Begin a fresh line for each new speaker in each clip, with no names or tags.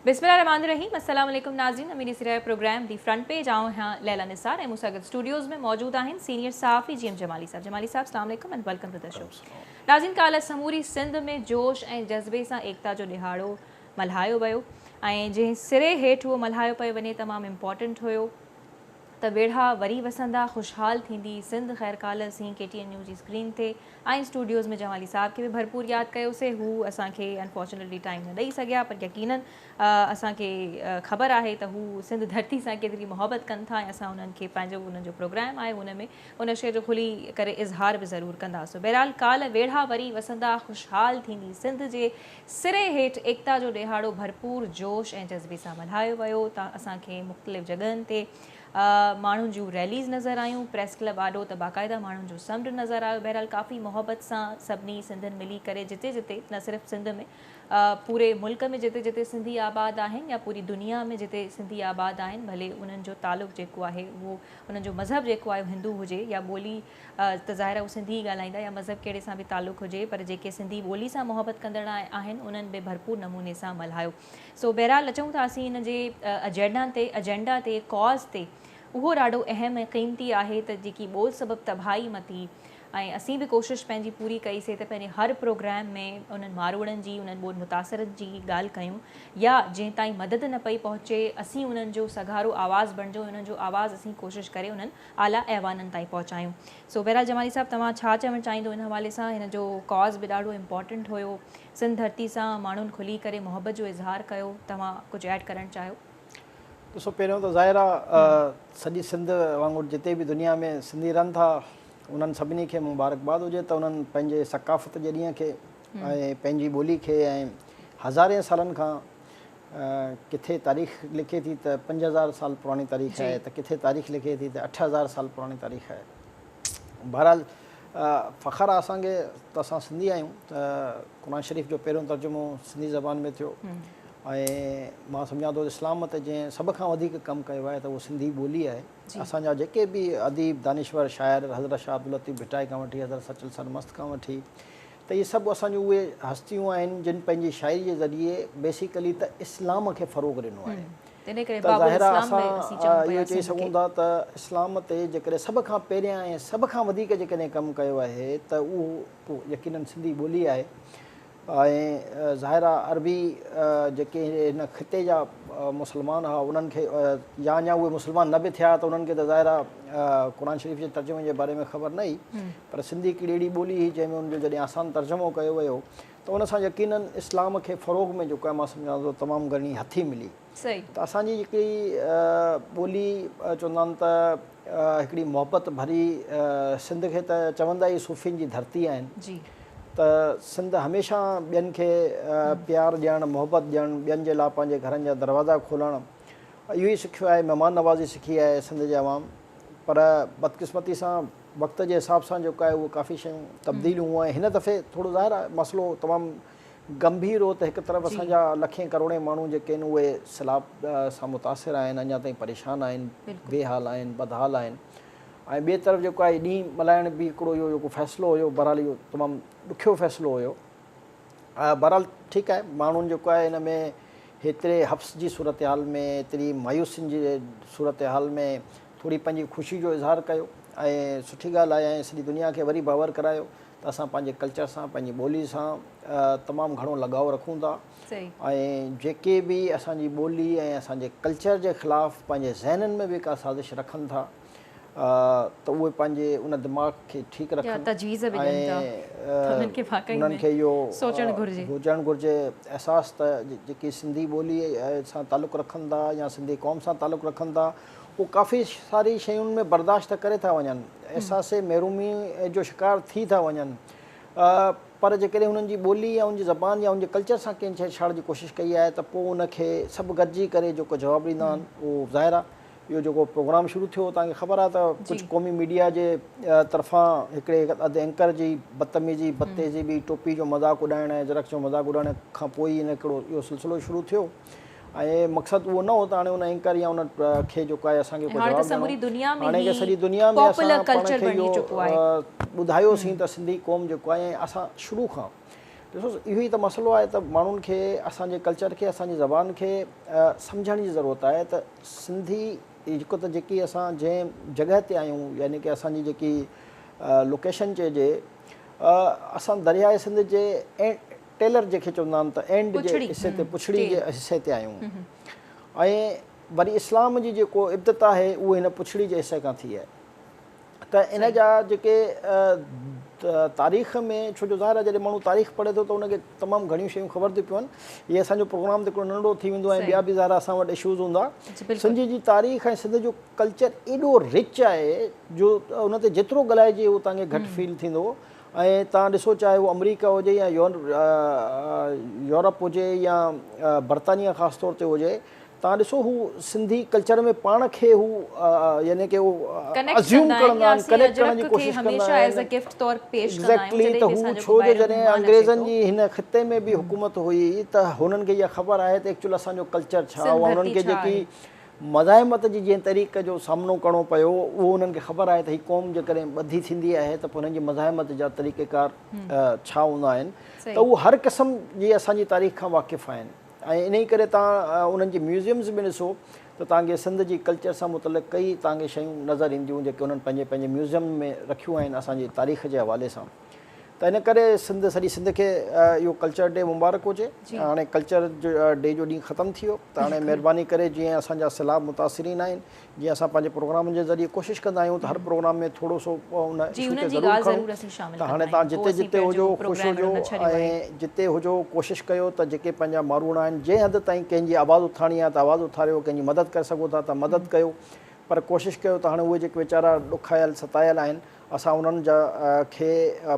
بسم الله الرحمان الرحيم السلام عليڪم ناظرين اميدي سرائي پروگرام دي فرنٽ پيج آئون آهيان ليليٰ نثار ۽ مون سان گڏ اسٽوڊيوز ۾ موجود آهن سينيئر صحافي جي ايم جمالي صاحب جمالي صاحب اسلام عليڪم and welcome to the show ناظرين ڪالهه سموري سنڌ ۾ جوش ۽ جذبي سان ايڪتا جو ڏهاڙو ملهايو ويو ۽ جنهن سري هيٺ اهو ملهايو پيو وڃي تمام امپورٽنٽ هيو ته ويڙها وري وسندا خوشحال ٿيندي سنڌ خيرڪالهه سين ڪي ٽي اين نيوز جي اسڪرين تي ۽ اسٽوڊيوز ۾ جمالي صاحب کي به ڀرپور ياد ڪيوسي هو اسان کي انفارچونيٽلي ٽائيم نه ڏئي سگهيا پر يقينا اسان کي خبر آهي ته هو سنڌ ڌرتي سان ڪيتري محبت ڪن ٿا ۽ اسان انهن کي پنهنجو انهن جو پروگرام آهي ان ۾ ان شي جو کلي ڪري اظهار به ضرور ڪنداسون بهرحال ڪالهه ويڙها وري وسندا خوشحال ٿيندي سنڌ جي سري هيٺ ايڪتا جو ڏهاڙو ڀرپور جوش ۽ جذبي سان ملهايو ويو تان اسان کي مختلف جڳهن تي ماڻهن جون ريليز نظر آيون پريس ڪلب آڏو ته باقاعده ماڻهن جو سمنڊ نظر آيو بهرحال ڪافي محبت سان سڀني سنڌين ملي ڪري جتي جتي نه صرف سنڌ ۾ پوري ملڪ ۾ جتي جتي سنڌي آباد آهن يا پوري دنيا ۾ جتي سنڌي آباد آهن ڀلي انهن جو تعلق جيڪو آهي اهو انهن جو مذهب جيڪو آهي هندو هجي يا ٻولي ته ظاهر آهي هو سنڌي ئي ڳالهائيندا يا مذهب ڪهڙي سان به تعلق هجي پر جيڪي سنڌي ٻولي سان محبت ڪندڙ آهن انهن به ڀرپور نموني سان ملهايو سو بهرحال اچون ٿا اسين ان جي اجينڊا تي اجينڊا تي ڪاز تي اهو ڏاڍو اهم ۽ قيمتي آهي ته جيڪي ٻول سبب تباهي متي ۽ اسين به ڪوشش پنهنجي پوري ڪئي سي ته پنهنجي هر پروگرام ۾ انهن ماروئڙن جي انهن ٻول متاثرن جي ڳالهه ڪيون يا جنهن تائين مدد نه پئي پهچي اسين انهن جو سگهارو آواز بڻجون انهن جو آواز اسين ڪوشش ڪري انهن اعليٰ ايوانن تائين پهچايون. سو بهرحال جمالي صاحب توهان ڇا چوڻ چاهيندو ان حوالي سان؟ هن جو ڪاز به ڏاڍو امپارٽنٽ هيو. سنڌ ڌرتي سان ماڻهن کلي ڪري محبت جو اظهار ڪيو. توهان ڪجهه ايڊ ڪرڻ چاهيو؟ ڏسو
پهريون ته ظاهر آ سڄي سنڌ وانگر جتي به دنيا ۾ سنڌي رهن ٿا انهن سڀني کي مبارڪباد هجي ته انهن پنهنجي ثقافت جي ڏينهن کي ۽ پنهنجي ٻولي کي ۽ هزارين سالن کان ڪٿي تاريخ لکي ٿي ته پنج هزار سال پراڻي تاريخ جي. آهي ته ڪٿي تاريخ لکي ٿي ته اٺ هزار سال پراڻي تاريخ آهي. بهرحال فخر آهي اسان کي ته اسان سنڌي آهيون ته قرآن شريف جو پهريون ترجمو سنڌي زبان ۾ ٿيو ۽ مان سمجهان ٿو اسلام تي جنهن سڀ کان وڌيڪ ڪم ڪيو آهي ته اهو سنڌي ٻولي آهي. جي. اسان جا جيڪي به اديب، دانشور، شاعر حضرت شاهه عبداللطيف ڀٽائي کان وٺي حضرت سچل سرمست کان وٺي ته اهي سڀ اسان جون اهي هستيون آهن جن پنهنجي شاعري جي ذريعي بيسيڪلي ته اسلام کي فروغ ڏنو آهي ته ظاهر آهي اسان اهو چئي سگهون ٿا ته اسلام تي جيڪڏهن سڀ کان پهريان ۽ سڀ کان وڌيڪ جيڪڏهن ڪم ڪيو آهي ته اهو يقينن سنڌي ٻولي آهي ۽ ظاهر آهي عربي جيڪي هن خطي جا مسلمان هئا انهن کي يا اڃا اهي مسلمان نه به ٿيا ته انهن کي ته ظاهر آهي قرآن شريف جي ترجمي جي باري ۾ خبر نه هئي پر سنڌي هڪڙي اهڙي ٻولي هئي جنهن ۾ ان جو جڏهن آسان ترجمو ڪيو ويو ته ان سان يقينن اسلام کي فروغ ۾ جيڪو آهي مان سمجهان ٿو تمام گهڻي هٿي ملي ته اسان جي جيڪي ٻولي چوندا آهن ته هڪڙي محبت ڀري سنڌ کي ته چوندا ئي صوفين جي ڌرتي آهن ته سنڌ هميشه ٻين کي پيار ڏيڻ محبت ڏيڻ ٻين جي لاء پنهنجي گهرن جا دروازا کولڻ اهو ئي سکيو آهي مهمان نوازي سکي آهي سنڌ جي عوام پر بدقسمتي سان وقت جي حساب سان جيڪو آهي اهو ڪافي شيون تبديليون هونئن هن دفعي ٿورو ظاهر آهي مسئلو تمام گنڀير هو ته هڪ طرف اسان جا لکين ڪروڙين ماڻهو جيڪي آهن اهي سيلاب سان متاثر آهن اڃا تائين پريشان آهن بي حال آهن بدحال آهن ۽ ٻئي طرف جيڪو آهي ڏينهن ملهائڻ به هڪڙو اهو جيڪو فيصلو هيو بهرحال اهو تمام ڏکيو فيصلو هيو بهرحال ٺيڪ آهي ماڻهن جيڪو آهي هن ۾ هيتري حبس جي صورتحال ۾ هيتري مايوسين جي صورتحال ۾ ٿوري پنهنجي خوشي جو اظهار ڪيو ۽ سٺي ڳالهه آهي ۽ سڄي دنيا کي وري باور ڪرايو ته اسان پنهنجي ڪلچر سان پنهنجي ٻولي سان تمام گهڻو لڳاء رکون ٿا ۽ جيڪي به اسان جي ٻولي ۽ اسان جي ڪلچر جي خلاف پنهنجي ذهنن ۾ به ڪا سازش رکن ٿا ته اهي پنهنجي ان دماغ کي ٺيڪ رکن تجويز به ڏين ٿا انهن کي واقعي انهن کي اهو سوچڻ گهرجي هجڻ گهرجي احساس ته جيڪي سنڌي ٻولي سان تعلق رکن ٿا يا سنڌي قوم سان تعلق رکن ٿا هو ڪافي ساري شين ۾ برداشت ته ڪري ٿا وڃن، احساس محرومي جو شڪار ٿي ٿا وڃن پر جيڪڏهن هنن جي ٻولي يا هن جي زبان يا هن جي ڪلچر سان ڪنهن ڇيڙ ڇاڙ جي ڪوشش ڪئي آهي ته پوء ان کي سڀ گڏجي ڪري جيڪو جواب ڏيندا آهن اهو ظاهر آهي اهو جيڪو پروگرام شروع ٿيو هو توهان کي خبر آهي ته ڪجهه قومي ميڊيا جي طرفان هڪڙي اڌ اينڪر جي بدتميزي بدتهذيبي ٽوپي جو مذاق اڏائڻ ۽ جرڪس جو مذاق اڏائڻ کان پوء ئي هن هڪڙو اهو سلسلو شروع ٿيو ۽ مقصد اهو نه هو ته هاڻي ان اينڪر يا ان کي جيڪو آهي اسان کي ڪو جواب ڏيڻو هو. هاڻي ته سڄي دنيا ۾ اسان پاڻ کي اهو ٻڌايوسين ته سنڌي قوم جيڪو آهي ۽ اسان شروع کان ڏسو اهو ئي ته مسئلو آهي ته ماڻهن کي اسان جي ڪلچر کي اسان جي زبان کي سمجهڻ جي ضرورت آهي ته سنڌي هڪ ته جيڪي اسان جنهن جڳهه تي آهيون يعني ڪي اسان جي جيڪي لوڪيشن چئجي اسان درياء سنڌ جي ٽيلر جنهن کي چوندا آهن ته اينڊ جي حصي تي پڇڙي جي حصي تي آيون ۽ وري اسلام جي جيڪو ابتدا آهي اهو هن پڇڙي جي حصي کان ٿي آهي ته ان جا جيڪي تاريخ ۾ ڇو جو ظاهر آهي جڏهن ماڻهو تاريخ پڙهي ٿو ته ان کي تمام گهڻيون شيون خبر ٿيون پون هي اسان جو پروگرام ته هڪڙو ننڍڙو ٿي ويندو ۽ ٻيا به ظاهر اسان وٽ اشوز هوندا سنڌ جي تاريخ ۽ سنڌ جو ڪلچر ايڏو رچ آهي جو ان تي جيترو ڳالهائجي اوتانگي گهٽ فيل ٿيندو ۽ توهان ڏسو چاهي اهو آمريڪا هجي يا يورپ هجي يا برطانيا خاص طور تي هجي توهان ڏسو هو سنڌي ڪلچر ۾ پاڻ کي هو يعني ڪي هو ازيوم ڪرندا آهن ڪنيڪٽ ڪرڻ جي ڪوشش ڪندا آهن ايگزيڪٽلي ته هو ڇو جو جڏهن انگريزن جي هن خطي ۾ به حڪومت هئي ته هنن کي اها خبر آهي ته ايڪچوئل اسان جو ڪلچر ڇا هو انهن کي جيڪي مزاحمت جي جنهن طريق جو سامنو ڪرڻو پيو اهو انهن کي خبر آهي ته هي قوم جيڪڏهن ٻڌي ٿيندي آهي ته پوء انهن جي مزاحمت جا طريقيڪار ڇا هوندا آهن ته اهو هر قسم جي اسان جي تاريخ کان واقف آهن ۽ انهي ڪري توهان انهن جي ميوزيمز ۾ ڏسو ته توهان کي سنڌ جي ڪلچر سان متعلق ڪئي توهان کي شيون نظر اينديون جيڪي انهن پنهنجي پنهنجي ميوزيم ۾ رکيون آهن اسان جي تاريخ جي حوالي سان. ته ان ڪري سنڌ سڄي سنڌ کي اهو ڪلچر ڊي مبارڪ هجي هاڻي ڪلچر ڊي جو ڏينهن ختم ٿي ويو ته هاڻي مهرباني ڪري جيئن اسان جا سيلاب متاثرين آهن جيئن اسان پنهنجي پروگرامن جي ذريعي ڪوشش ڪندا آهيون ته هر پروگرام ۾ ٿورو سو ان اشو کي ضرور کڻون ته هاڻي تان جتي جتي هجو خوش هجو ۽ جتي هجو ڪوشش ڪيو ته جيڪي پنهنجا ماروئڙا آهن جنهن حد تائين ڪنهن جي آواز اٿارڻي آهي ته آواز اٿاريو ڪنهن جي مدد ڪري سگهو ٿا ته مدد ڪيو پر ڪوشش ڪيو ته هاڻي اهي جيڪي ويچارا ڏکايل ستايل آهن اسان انهن جا کي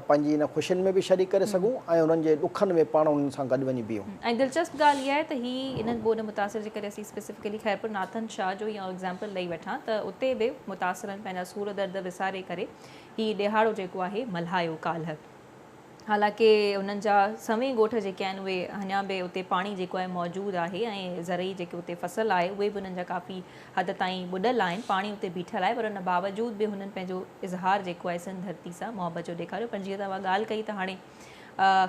پنهنجي ان خوشين ۾ به شريڪ ڪري سگهون ۽ انهن جي ڏکن ۾ پاڻ انهن سان گڏ وڃي بيهون. ۽ دلچسپ ڳالهه اها آهي
ته هي انهن ٻوڏ متاثر جي ڪري اسين اسپيسفڪلي خيرپور ناٿن شاهه جو اهو ايگزامپل ڏئي وٺان ته اتي به متاثرن پنهنجا سور درد وساري ڪري هي ڏيهاڙو جيڪو آهي ملهايو ڪالهه حالانڪه انهن جا سوين ڳوٺ جيڪي آهن اهي اڃا به اتي پاڻي جيڪو آهي موجود آهي ۽ زرعي جيڪي اتي فصل آهي اهي به انهن جا ڪافي حد تائين ٻڏل آهن پاڻي اتي بيٺل آهي پر ان باوجود به هنن پنهنجو اظهار جيڪو آهي سنڌ ڌرتي سان محبت جو ڏيکاريو پر جيئن توهان ڳالهه ڪئي ته هاڻي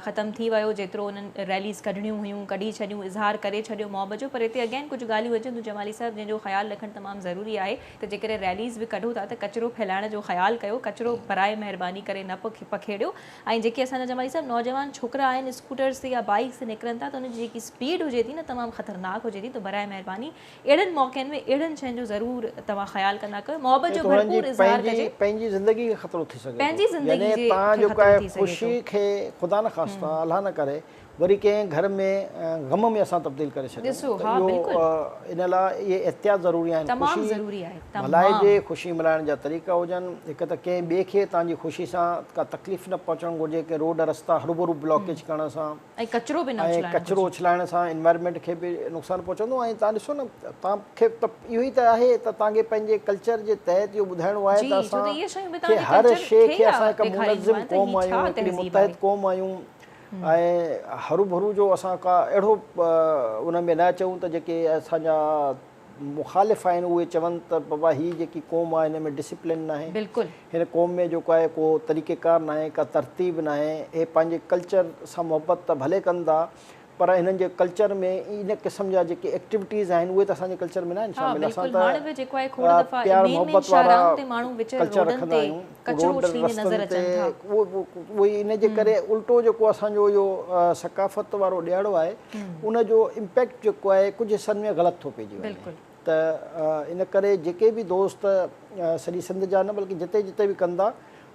ختم ٿي ويو جيترو انهن ريليز ڪڍڻيون هيون ڪڍي ڇڏيون اظهار ڪري ڇڏيو محبت جو پر هتي اگين ڪجهه ڳالهيون اچن ٿيون جمالي صاحب جنهن جو خيال رکڻ تمام ضروري آهي ته جيڪڏهن ريليز به ڪڍو ٿا ته ڪچرو ڦهلائڻ جو خيال ڪيو، ڪچرو براهه مهرباني ڪري نه پکيڙيو ۽ جيڪي اسان جا جمالي صاحب نوجوان ڇوڪرا آهن اسڪوٽرز تي يا بائيڪس تي نڪرن ٿا ته انهن جي جيڪي اسپيڊ هجي ٿي نه تمام خطرناڪ هجي ٿي ته براهه مهرباني اهڙن موقعن ۾ اهڙن شين جو ضرور توهان خيال ڪندا ڪيو محبت جو ڀرپور اظهار ڪجي. پنهنجي زندگي کي خطرو
ٿي سگهي ٿو يعني تان
جو ڪا خوشي
کي خدا نه خاصتا الله نه ڪري وري ڪنهن گهر ۾ غم ۾ اسان تبديل ڪري ڇڏيون ڏسو ها ته بلڪل اهو ان لاء اهي احتياط ضروري آهن تمام خوشي ضروري آهي تمام ملهائجي خوشي ملهائڻ جا طريقا هجن هڪ ته ڪنهن ٻئي کي تهان جي خوشي سان ڪا تڪليف نه پهچڻ گهرجي ڪنهن روڊ رستا هروڀرو بلاڪيج ڪرڻ سان ۽ ڪچرو به نه ۽
اڇلائڻ ڪچرو گهرجي اڇلائڻ سان
انوائرمينٽ کي به نقصان پهچندو ۽ تهان ڏسو نه تهان کي ته اهو ئي ته آهي ته تهان کي پنهنجي ڪلچر جي تحت اهو ٻڌائڻو آهي جي ته ڇو ته اسان اهي شيون به تهان کي جي هر ڪلچر شيء کي کي ئي آ اسان هڪ ڏيکارينديون منظم آهن ته قوم هي آهيون ڇا هڪڙي تهذيب آهي متحد قوم آهيون ۽ هروڀرو جو اسان ڪا اهڙو ان ۾ نه اچون ته جيڪي اسان جا مخالف آهن اهي چون ته بابا هي جيڪي قوم آهي هن ۾ ڊسپلن ناهي هن قوم ۾ جيڪو آهي ڪو طريقه ڪار ناهي ڪا ترتيب ناهي هي پنهنجي ڪلچر سان محبت ته ڀلي ڪن ٿا پر هنن جي ڪلچر ۾ ان قسم جا جيڪي ايڪٽيوٽيز آهن اهي ته اسان جي ڪلچر ۾ ناهن شامل اسان ته پيار محبت وارا ڪلچر رکندا آهيون ڪچرو ڇڻيندي نظر اچن ٿا. اهو ئي ان جي ڪري الٽو جيڪو اسان جو اهو ثقافت وارو ڏيهاڙو آهي ان جو امپيڪٽ جيڪو آهي ڪجهه حصن ۾ غلط ٿو پئجي وڃي ته ان ڪري جيڪي به دوست سڄي سنڌ جا نه بلڪه جتي جتي به ڪن ٿا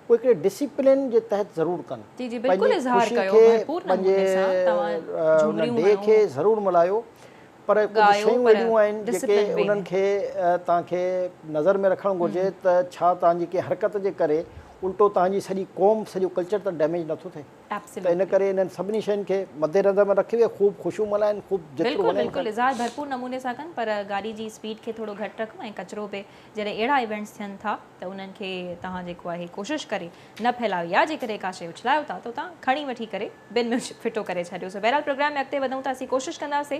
اهي هڪڙي ڊسيپلين جي تحت ضرور ڪن پنهنجي خوشي کي پنهنجي ان ڊي کي ضرور ملهايو پر ڪجهه شيون اهڙيون آهن جيڪي انهن کي توهان کي نظر ۾ رکڻ گهرجي ته ڇا توهان جي ڪنهن حرڪت جي ڪري الٽو توهان جي سڄي قوم سڄو ڪلچر ته ڊيميج نٿو ٿئي ته ان ڪري انهن سڀني شين کي مد نظر ۾ رکي اهي خوب خوشيون ملهائن خوب جيترو وڃن ڪن بلڪل اظهار
ڀرپور نموني سان ڪن پر گاڏي جي اسپيڊ کي ٿورو گهٽ رکن ۽ ڪچرو به جڏهن اهڙا ايونٽس ٿين ٿا ته انهن کي توهان جيڪو آهي ڪوشش ڪري نه ڦهلايو يا جيڪڏهن ڪا شيء اڇلايو ٿا ته اتان کڻي وٺي ڪري بن ۾ ڦٽو ڪري ڇڏيو سو بهرحال پروگرام ۾ اڳتي وڌون ٿا اسين ڪوشش ڪنداسي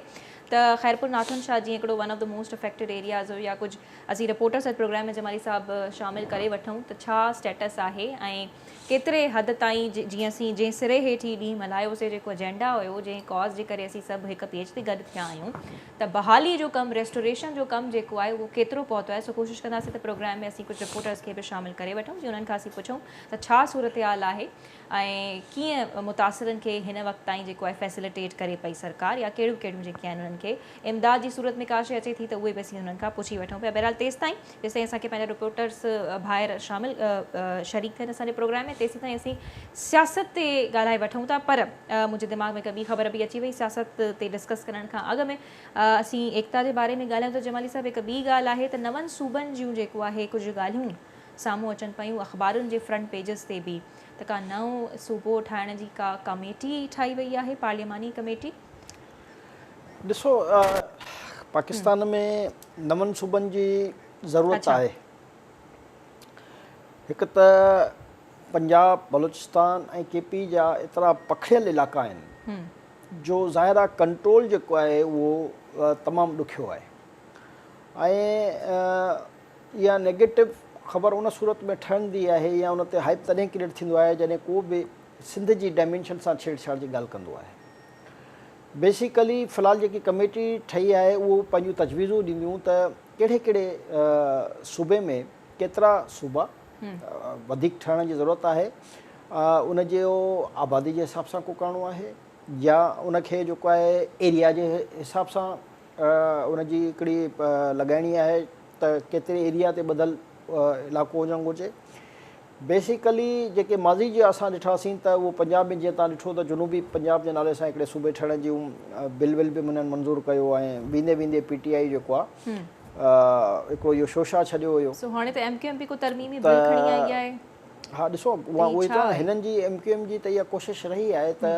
ته خيرپور ناٿن شاهه جيئن هڪڙو one of the most affected areas هو يا ڪجهه اسين رپورٽرس اڄ پروگرام ۾ جمالي صاحب شامل ڪري وٺون ته ڇا اسٽيٽس آهي ۽ ڪيتري حد تائين جي اسين جنهن سري هيٺ هي ڏينهن ملهايو سي جيڪو اجينڊا هيو جنهن ڪاز جي ڪري اسين سڀ هڪ پيج تي گڏ ٿيا آهيون ته بحالي جو ڪم ريسٽوريشن جو ڪم جيڪو آهي اهو ڪيترو پهتو آهي سو ڪوشش ڪنداسين ته پروگرام ۾ اسين ڪجهه رپورٽرز کي به شامل ڪري وٺون جي انهن کان اسين پڇون ته ڇا صورتحال آهي ۽ ڪيئن متاثرن کي هن وقت تائين جيڪو آهي فيسليٽيٽ ڪري پئي سرڪار يا ڪهڙيون ڪهڙيون جيڪي آهن انهن کي امداد جي صورت ۾ ڪاشي اچي ٿي ته اهي به اسين انهن کان پڇي وٺون پيا بهرحال تيستائين جيسين اسان کي پنهنجا رپورٽرز ڀائر شامل شريڪ ٿين اسان جي پروگرام ۾ تيسين تائين اسين سياست تي ڳالهائي وٺون ٿا پر منهنجي دماغ ۾ هڪ ٻي خبر به اچي وئي سياست تي ڊسڪس ڪرڻ کان اڳ ۾ اسين ايڪتا جي باري ۾ ڳالهايون ته جمالي صاحب هڪ ٻي ڳالهه آهي ته نون صوبن جون جيڪو آهي ڪجهه ڳالهيون سامهون اچن پيون اخبارن جي فرنٽ پيجز تي به ته ڪا نئون صوبو ٺاهڻ جي ڪا ڪاميٽي ٺاهي وئي آهي پارلياماني ڪميٽي
ڏسو پاڪستان ۾ نون صوبن جي ضرورت آهي هڪ ته پنجاب بلوچستان ۽ ڪي پي جا ايترا پکڙيل علائقا آهن جو ظاهر آهي ڪنٽرول جيڪو آهي اهو تمام ڏکيو آهي ۽ اها نيگيٽو خبر ان صورت ۾ ٺهندي آهي يا ان تي هائپ تڏهن ڪريٽ ٿيندو آهي جڏهن ڪو به سنڌ جي ڊائمينشن سان ڇيڙ ڇاڙ جي ڳالهه ڪندو آهي بيسيڪلي في الحال جيڪي ڪميٽي ٺهي آهي اهو پنهنجون تجويزون ڏينديون ته ڪهڙي ڪهڙي صوبي ۾ ڪيترا صوبا وڌيڪ ٺهڻ جي ضرورت آهي ان جو آبادي جي حساب سان ڪو ڪرڻو آهي يا ان کي جيڪو آهي ايريا جي حساب سان ان جي هڪڙي لڳائڻي آهي ته ڪيتري ايريا تي ٻڌل علائقو هجڻ گهرجي بيسيڪلي جيڪي ماضي جي اسان ڏٺاسين ته اهو پنجاب ۾ جيئن تان ڏٺو ته جنوبي پنجاب جي نالي سان هڪڙي صوبي ٺهڻ جون بل ول به منهن منظور ڪيو ۽ ويندي ويندي پي ٽي آئي جيڪو آهي هڪڙو اهو شوشا ڇڏيو هيو سو هاڻي
ته ايم ڪيو ايم به ڪو ترميمي بل کڻي
آئي آهي ها ڏسو اها اهو ئي ته هنن جي ايم ڪيو ايم جي ته اها ڪوشش رهي آهي ته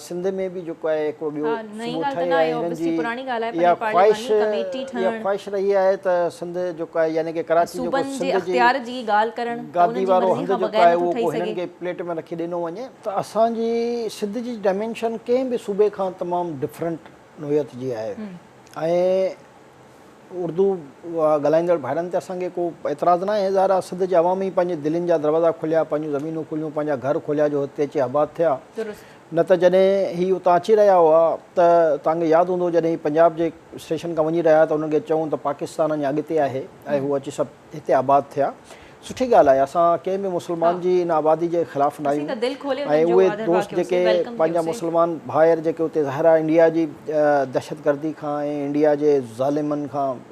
سنڌ ۾ به جيڪو آهي هڪڙو ٻيو صوبو ٺهي آهي هنن جي اها خواهش اها خواهش رهي آهي ته سنڌ جيڪو آهي يعني ڪي ڪراچي جيڪو سنڌ جي گادي وارو هنڌ جيڪو آهي اهو ڪو هنن کي پليٽ ۾ رکي ڏنو وڃي ته اسان جي سنڌ جي ڊائمينشن ڪنهن به صوبي کان تمام ڊفرنٽ نوعيت جي آهي ۽ اردو ڳالهائيندڙ ڀائرن تي اسان کي ڪو اعتراض نه آهي. ظاهر آهي سنڌ جي عوام ئي پنهنجي دلين جا دروازا کوليا، پنهنجون زمينون کوليون، پنهنجا گهر کوليا جو هتي اچي آباد ٿيا. درست. نه ته جڏهن هي اتان اچي رهيا هئا ته توهان کي ياد هوندو جڏهن هي پنجاب جي اسٽيشن کان وڃي رهيا ته انهن کي چئون ته پاڪستان اڃا اڳتي آهي ۽ هو اچي سڀ هتي آباد ٿيا سٺي ڳالهه آهي اسان ڪنهن به مسلمان جي ان آبادي جي خلاف نه آهيون ۽ اهي دوست جيڪي پنهنجا مسلمان ڀائر جيڪي اتي ظاهر آهي انڊيا جي دهشت گردي کان ۽ انڊيا جي ظالمن کان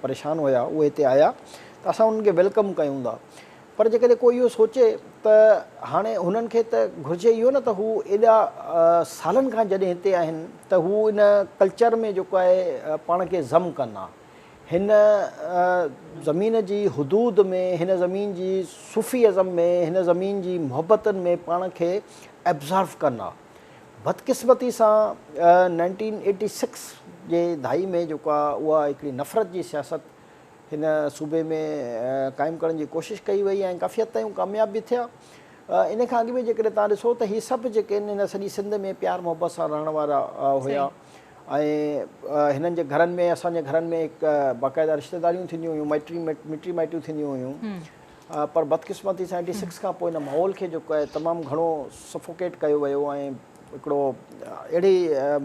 پريشان هيا اهي هتي آيا ته اسان انهن کي ويلڪم ڪيون ٿا پر جيڪڏهن ڪو اهو سوچي ته هاڻي هنن کي ته گهرجي اهو نه ته هو ايڏا سالن کان جڏهن هتي آهن ته هو ان ڪلچر ۾ جيڪو آهي پاڻ کي ضم ڪن ها هن زمين جي حدود ۾ هن زمين جي صوفي ازم ۾ هن زمين جي محبتن ۾ پاڻ کي ابزارو ڪن ها بدقسمتي سان نائنٽين ايٽي سڪس جي دهائي ۾ جيڪو آ اها هڪڙي نفرت جي سياست هن صوبي ۾ قائم ڪرڻ جي ڪوشش ڪئي وئي ۽ ڪافي حد تائين ڪامياب به ٿيا ان کان اڳ ۾ جيڪڏهن تان ڏسو ته هي سڀ جيڪي ان سڄي سنڌ ۾ پيار محبت سان رهڻ وارا هيا ۽ هنن جي گهرن ۾ اسان جي گهرن ۾ هڪ باقاعده رشتيداريون ٿينديون هيون مٽي مٽي مائٽيون ٿينديون هيون پر بدقسمتي سان ايٽي سڪس کان پوء هن ماحول کي جو تمام گهڻو سفوڪيٽ ڪيو ويو ۽ هڪڙو اهڙي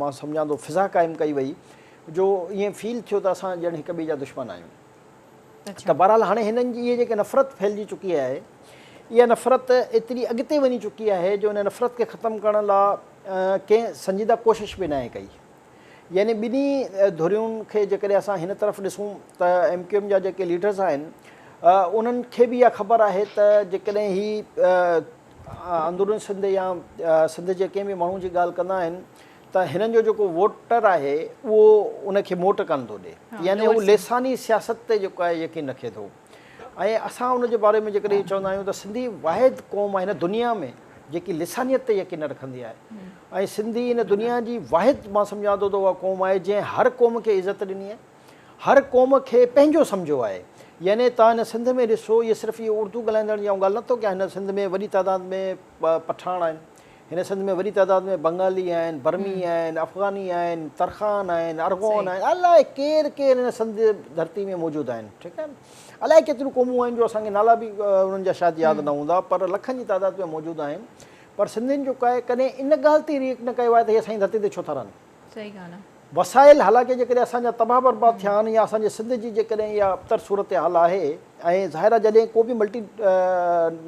مان سمجهان ٿو فضا قائم ڪئي وئي جو ائين فيل ٿيو ته اسان ڄڻ هڪ ٻئي جا دشمن آهيون ته بهرحال هاڻي هنن جي اهي جيڪي نفرت ڦهلجي چڪي آهي اها نفرت ايتري اڳتي وڃي چڪي آهي جو ان نفرت کي ختم ڪرڻ لا ڪنهن سنجيده ڪوشش به ناهي ڪئي يعني ٻنهي ڌرين کي جيڪڏهن اسان هن طرف ڏسون ته ايم ڪيو ايم جا جيڪي ليڊرز آهن انهن کي به اها خبر آهي ته جيڪڏهن هي اندروني سنڌ يا سنڌ جي ڪنهن به ماڻهو جي ڳالهه ڪندا آهن ته هنن جو جيڪو ووٽر آهي اهو ان کي موٽ ڪانه ٿو ڏي يعني هو لساني سياست تي جيڪو آهي يقين رکي ٿو ۽ اسان ان جي باري ۾ جيڪڏهن اهو چوندا آهيون ته سنڌي واحد قوم آهي هن دنيا ۾ جيڪي لسانيت تي يقين نه رکندي آهي ۽ سنڌي هن دنيا جي واحد مان سمجهان ٿو ته اها قوم آهي جنهن هر قوم کي عزت ڏني آهي هر قوم کي پنهنجو سمجهيو آهي يعني توهان هن سنڌ ۾ ڏسو هي صرف اهي اردو ڳالهائيندڙ جي آئون ڳالهه نه ٿو ڪيان هن سنڌ ۾ وڏي تعداد ۾ پٺاڻ آهن هن سنڌ ۾ وڏي تعداد ۾ بنگالي آهن، برمي آهن، افغاني آهن، ترخان آهن، ارغون آهن، الاء ڪير ڪير هن سنڌ ڌرتي ۾ موجود آهن، ٺيڪ آهي نه، الاء ڪيتريون قومون آهن جو اسان کي نالا به انهن جا شايد ياد نه هوندا پر لکن جي تعداد ۾ موجود آهن پر سنڌين جو ڪاهي ڪڏهن ان ڳالهه تي ريئڪٽ نه ڪيو آهي ته هي اسان جي ڌرتي تي ڇو ٿا رهن. صحيح
ڳالهه آ. وسائل حالانڪه
جيڪڏهن اسان جا تباهه برباد ٿيا آهن يا اسان جي سنڌ جي جيڪڏهن اها ابتر صورتحال آهي ۽ ظاهر آهي جڏهن ڪو به ملٽي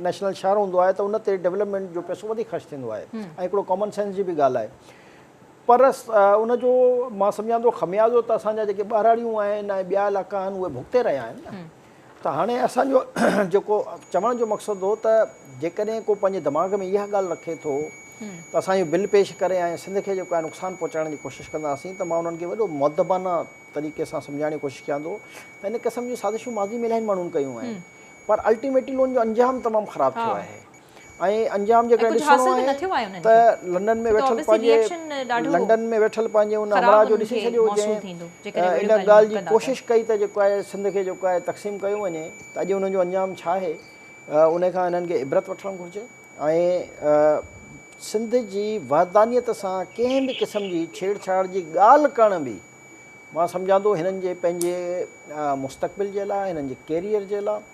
نيشنل شهر هوندو آهي ته ان تي ڊولپمينٽ جو پئسو وڌيڪ خرچ ٿيندو آهي ۽ هڪڙو ڪامن سينس جي به ڳالهه آهي پر ان جو مان سمجهان ٿو خميازو ته اسان جا جيڪي ٻهراڙيون آهن ۽ ٻيا علائقا آهن اهي ڀڳتي رهيا آهن نه. ته هاڻي اسان جو جيڪو چوڻ جو مقصد هو ته جيڪڏهن ڪو پنهنجي دماغ ۾ اها ڳالهه رکي ٿو ته اسان اهو بل پيش ڪري ۽ سنڌ کي جيڪو آهي نقصان پهچائڻ جي ڪوشش ڪنداسين ته مان انهن کي وڏو مؤدبانه طريقي سان سمجهائڻ جي ڪوشش ڪيان ٿو ته ان قسم جون سازشون ماضي ۾ الاهين ماڻهن ڪيون آهن پر الٽيميٽلون جو انجام تمام خراب ٿيو آهي. ۽ انجام جيڪڏهن ڏسڻو آهي ته لنڊن ۾ ويٺل پنهنجي لنڊن ۾ ويٺل پنهنجي ان همراهه جو ڏسي ڇڏيو جنهن ان ڳالهه جي ڪوشش ڪئي ته جيڪو آهي سنڌ کي جيڪو آهي تقسيم ڪيو وڃي ته اڄ ان جو انجام ڇا آهي ان کان انهن کي عبرت وٺڻ گهرجي ۽ سنڌ جي وحدانيت سان ڪنهن به قسم جي ڇيڙ ڇاڙ جي ڳالهه ڪرڻ به مان سمجهان ٿو هنن جي پنهنجي مستقبل جي لاء هنن جي ڪيريئر جي لاء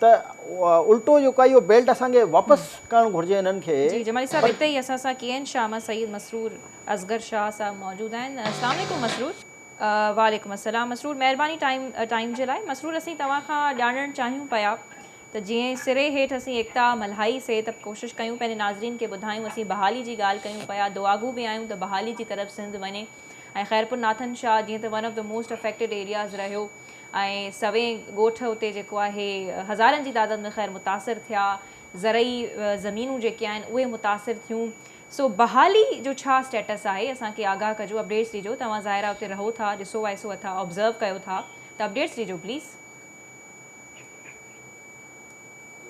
ته الٽو جيڪو آهي اهو بيلٽ اسان کي واپس ڪرڻ گهرجي انهن کي جي جمالي صاحب اتي ئي اسان
سان ڪين شاهه سيد مسرور اصغر شاهه صاحب موجود آهن اسلام عليڪم مسرور. وعليڪم السلام مسرور مهرباني ٽائيم ٽائيم جي لاء مسرور اسين توهان کان ڄاڻڻ چاهيون پيا ته جئين سري هيٺ اسين ايڪتا ملهائي سي ته ڪوشش ڪيون پنهنجي ناظرين کي ٻڌايون اسين بحالي جي ڳالهه ڪيون پيا دعاگو به آهيون ته بحالي جي طرف سنڌ وڃي ۽ خيرپور ناٿن شاهه جئين ته ون آف ته موسٽ افيڪٽيڊ ايرياز رهيو ۽ سوين ڳوٺ اتي جيڪو آهي هزارن جي تعداد ۾ خير متاثر ٿيا، زرعي زمينون جيڪي آهن اهي متاثر ٿيون، سو بحالي جو ڇا اسٽيٽس آهي اسان کي آگاهه ڪجو اپڊيٽس ڏجو توهان ظاهر آهي اتي رهو ٿا ڏسو وائسو اٿا آبزرو ڪيو ٿا ته اپڊيٽس ڏجو پليز.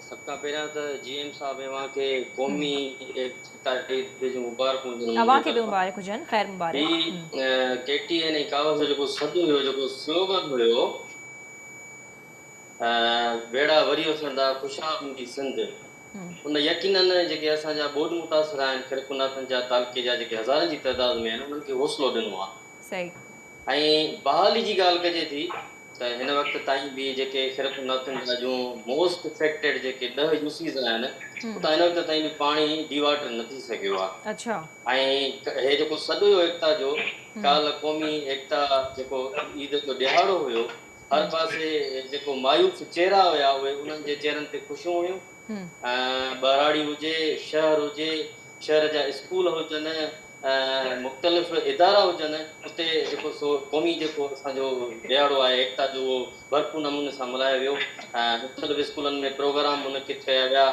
سڀ کان پهريان ته جي ايم صاحب اوهان کي قومي ايڪتا عيد جون مبارڪون ٿيون اوهان کي به مبارڪ
هجن خير مبارڪ هي ڪي ٽي اين
۽ ڪائوس جو جيڪو سڏ هيو جيڪو سلوگن هيو ويڙها وري اٿن ٿا خوشحال هوندي سنڌ ان يقينن جيڪي اسان جا ٻوڏ متاثر آهن خرقو ناٿن جا تعلقي جا جيڪي هزارن جي تعداد ۾ آهن انهن کي حوصلو ڏنو آهي صحيح ۽ بحالي جي ڳالهه ڪجي ٿي ته هن وقت تائين به جيڪي خرقه نورٿن جا جون موسٽ افيڪٽيڊ جيڪي ڏهه يو سيز آهن اتان هن وقت تائين به پاڻي ڊي واٽر نه ٿي سگهيو آهي ۽
هي
جيڪو سڏويو ايڪتا جو ڪالهه قومي ايڪتا جيڪو عيد جو ڏهاڙو هيو هر پاسي جيڪو مايوس چهرا هيا اهي انهن جي چهرن تي خوشيون هيون ٻهراڙي هجي شهر هجي شهر جا اسڪول هجن مختلف ادارا هجن اتي جيڪو سو قومي جيڪو اسان جو ڏهاڙو آهي ايڪتا جو اهو ڀرپور نموني سان ملهايو ويو مختلف اسڪولن ۾ پروگرام منعقد ڪيا ويا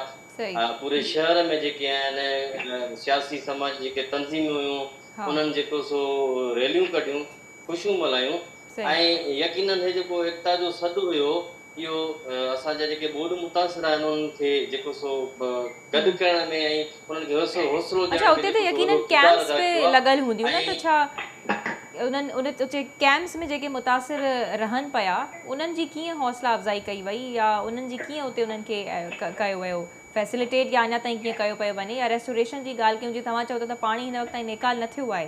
پوري شهر ۾ جيڪي آهن سياسي سماجي جيڪي تنظيمون هيون انهن جيڪو سو ريليون ڪڍيون خوشيون ملهايون ۽ يقينن هي جيڪو ايڪتا جو سڏ هيو اهو اسان جا جيڪي ٻوڏ متاثر آهن انهن کي جيڪو سو گڏ ڪرڻ ۾ ۽ انهن کي حوصلو ڏيڻ ۾ جيڪو سو وڏو ڪردار ادا ڪيو
آهي لڳل هونديون نه ته ڇا انهن ان اتي ڪئمپس ۾ جيڪي متاثر رهن پيا انهن جي ڪيئن حوصلا افزائي ڪئي وئي يا انهن جي ڪيئن اتي انهن کي ڪيو ويو فيسليٽيٽ يا اڃا تائين ڪيئن ڪيو پيو وڃي يا ريسٽوريشن جي ڳالهه ڪيون جي توهان چئو ٿا ته پاڻي هن وقت تائين نيڪال نه ٿيو آهي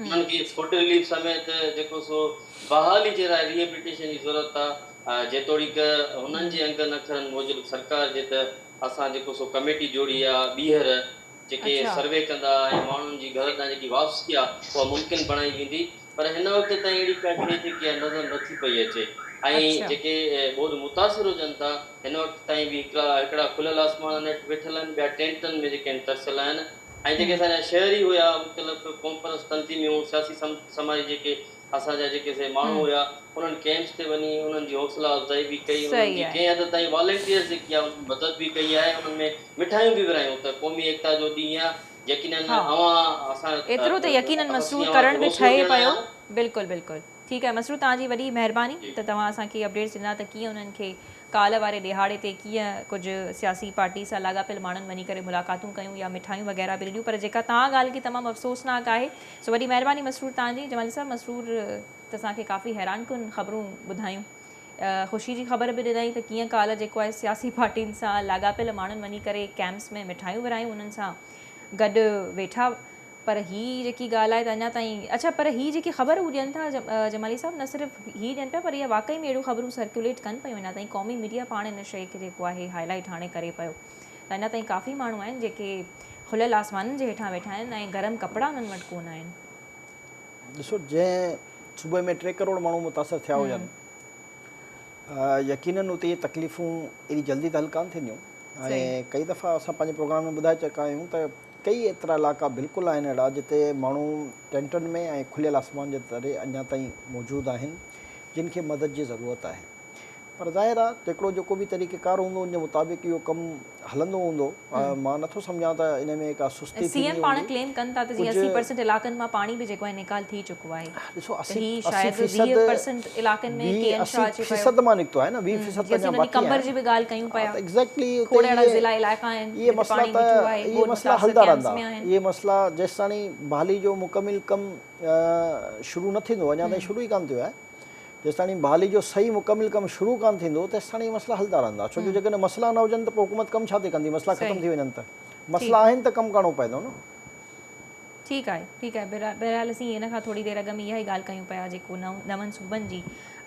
انهن کي فوڊ رليف سميت جيڪو سو بحالي جي لاء ري ايبليٽيشن جي ضرورت آ، جيتوڻيڪ هنن جي انگن اکرن موجب سرڪار جي ته اسان جيڪو سو ڪميٽي جوڙي آ، ٻيهر جيڪي سروي ڪندا ۽ ماڻهن جي گهر ڏانهن جيڪي واپسي آ اها ممڪن بڻائي ويندي پر هن وقت تائين اهڙي ڪا شيء جيڪي آ نظر نه ٿي پئي اچي ۽ جيڪي ٻوڏ متاثر هجن ٿا هن وقت تائين به هڪڙا هڪڙا کليل آسمانن هيٺ ويٺل آهن ٻيا ٽينٽن ۾ جيڪي آهن ترسيل آهن. ۽ جيڪي اسان جا شهري هيا مختلف قومپرست تنظيميون سياسي سماجي جيڪي اسان جا جيڪي سي ماڻهو هيا انهن ڪئمپس تي وڃي انهن جي حوصلا افزائي به ڪئي انهن جي ڪنهن حد تائين والنٽيئرز جيڪي آهن انهن مدد به ڪئي آهي انهن ۾ مٺايون به ورهايون ته قومي ايڪتا جو ڏينهن آهي يقينن اوهان اسان
ايترو
ته يقينن
مسرور ڪرڻ به ٺهي
پيو
بلڪل بلڪل.
ٺيڪ
آهي مسرور توهان جي وڏي مهرباني ته توهان اسان کي اپڊيٽس ڏنا ته ڪيئن انهن کي ڪالهه واري ڏيهاڙي تي ڪيئن ڪجهه سياسي پارٽي سان لاڳاپيل ماڻهن وڃي ڪري ملاقاتون ڪيون يا مٺايون وغيره به ڏنيون پر جيڪا توهان ڳالهه ڪئي تمام افسوسناڪ آهي سو وڏي مهرباني مسرور توهان جي جمالي صاحب مسرور ته اسان کي ڪافي حيران ڪن خبرون ٻڌايون خوشي جي خبر به ڏنائين ته ڪيئن ڪالهه جيڪو آهي سياسي پارٽين سان لاڳاپيل ماڻهن وڃي ڪري ڪيمپس ۾ مٺايون ورهايون انهن سان گڏ ويٺا پر هي جيڪي ڳالهه آهي ته اڃا تائين اڇا پر هي جيڪي خبر هو ڏين ٿا جمالي صاحب نه صرف هي ڏين پيا پر اها واقعي ۾ اهڙيون خبرون سرڪيوليٽ ڪن پيون اڃا تائين قومي ميڊيا پاڻ ان شيء کي جيڪو آهي هاء لائيٽ هاڻي ڪري پيو ته اڃا تائين ڪافي ماڻهو آهن جيڪي کليل آسمانن جي هيٺان ويٺا آهن ۽ گرم ڪپڙا انهن وٽ ڪونه آهن. ڏسو
جنهن صوبي ۾ ٽي ڪروڙ ماڻهو متاثر ٿيا هجن يقينن اتي اهي تڪليفون ايڏي جلدي ته حل ڪانه ٿينديون ۽ ڪئي دفعا اسان پنهنجي پروگرام ۾ ٻڌائي چڪا آهيون ته ڪيئي ايترا علائقا بلڪل آهن اهڙا جتي ماڻهو ٽينٽن ۾ ۽ کليل آسمان جي تري اڃا تائين موجود آهن جن کي مدد جي ضرورت آهي پر ظاهر آهي تڪڙو جيڪو به طريقه ڪار هوندو ان جي مطابق اهو ڪم هلندو هوندو مان نٿو سمجهان ته ان ۾ ڪا سستي ٿيندي
هوندي ڪجهه نيڪال ٿي چڪو آهي ڏسو اسي
شايد ويهه پرسنٽ
علائقن ۾ ڪي اين شاهه جي فيصد مان نڪتو آهي نه ويهه فيصد
ته اڃا باقي آهي جي به ڳالهه ڪيون
پيا ايگزيڪٽلي ڪوڙي اهڙا ضلع
علائقا
آهن اهي مسئلا ته
اهي مسئلا
هلندا رهندا
اهي مسئلا جيستاڻي بحالي جو مڪمل ڪم شروع نه ٿيندو اڃا تائين شروع ئي ڪانه ٿيو آهي جيستاڻي بحالي جو صحيح مڪمل ڪم شروع ڪانه ٿيندو تيستاڻي اهي مسئلا هلندا رهندا ڇو جو جيڪڏهن مسئلا نه هجن ته پوء حڪومت ڪم ڇا تي ڪندي مسئلا ختم ٿي وڃن ته مسئلا آهن ته ڪم ڪرڻو پوندو نه ٺيڪ
آهي ٺيڪ آهي بهرحال اسين ان کان ٿوري دير اڳ ۾ اها ئي ڳالهه ڪيون پيا جيڪو نون صوبن جي